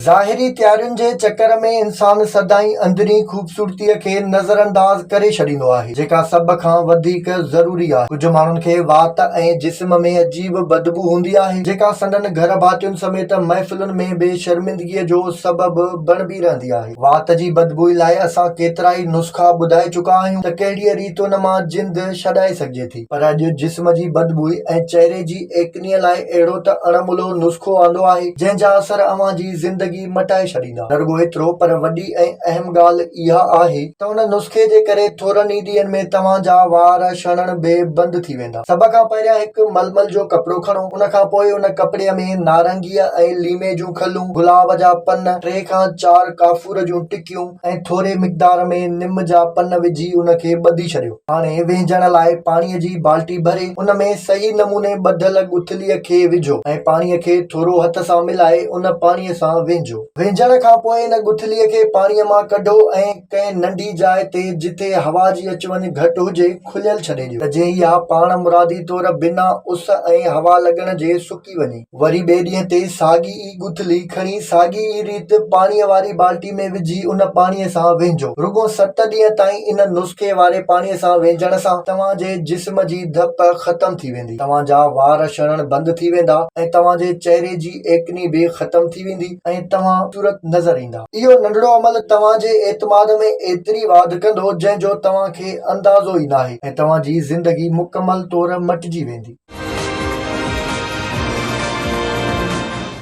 ظاهري تيارين جي چڪر ۾ انسان سدائين اندرين خوبصورتيء کي نظرانداز ڪري ڇڏيندو آهي، جيڪا سڀ کان وڌيڪ ضروري آهي. ڪجهه ماڻهن کي وات ۽ جسم ۾ عجيب بدبو هوندي آهي، جيڪا سندن گهر ڀاتين سميت محفلن ۾ به شرمندگيء جو سبب بڻبي رهندي آهي. وات جي بدبوء لاء اسان ڪيترائي نسخا ٻڌائي چڪا آهيون ته ڪهڙيء ريت ان مان جند ڇڏائي سگهجي ٿي. پر اڄ جسم جي بدبوء ۽ چهري جي ايڪنيء لاء اهڙو ته اڻ ملهو نسخو آندو آهي، جنهن جا اثر اوهان جي زندگي مٽائي ڇڏيندا. نه رڳو ايترو پر وڏي ۽ اهم ڳالهه اها آهي، ته ان نسخي جي ڪري ٿورن ئي ڏينهن ۾ توهان جا وار شڻڻ به بند ٿي ويندا. سڀ کان پهريان هڪ ململ جو ڪپڙو کڻو، ان کان پوء ان ڪپڙي ۾ نارنگيء ۽ ليمي جون کلون، گلاب جا پن، ٽي کان چار ڪافور جون ٽڪيون، ڪيو ۽ ٿوري مقدار ۾ نم جا پن وجهي ان کي ٻڌي ڇڏيو. هاڻي وهنجڻ لاء پاڻيء جي بالٽي ڀري ان ۾ صحيح نموني ٻڌل ڳٿليء کي وجهو ۽ پاڻيء کي ٿورو هٿ سان ملائي ان پاڻيء سان وهنجو. وهنجڻ کان پوء ان ڳٿليء کي پاڻيء مان ڪڍو ۽ ڪنهن ننڍي جاء تي جتي هوا جي اچ وڃ گهٽ هجي کليل ڇڏي ڏيو ته جئين اها پاڻ مرادي طور بنا اس ۽ هوا لڳڻ جي سڪي وڃي. وري ٻئي ڏينهن تي ساڳي ئي ڳٿلي کڻي ساڳي ئي ريت پاڻيء واري بالٽي ۾ وجهي ان پاڻيء سان وينجهو. رڳو ست ڏينهن تائين ان نسخي واري پاڻيء سان وينجهڻ سان توهان جي جسم جي ڌپ ختم ٿي ويندي، توهان جا وار شڙڻ بند ٿي ويندا ۽ توهان جي چهري جي ايڪني به ختم ٿي ويندي. ۽ توهان خوبصورت نظر ايندا. اهو ننڍڙو عمل توهان جي اعتماد ۾ ايتري واڌ ڪندو جنهن جو توهان کي اندازو ئي ناهي ۽ توهان جي زندگي مڪمل طور مٽجي ويندي.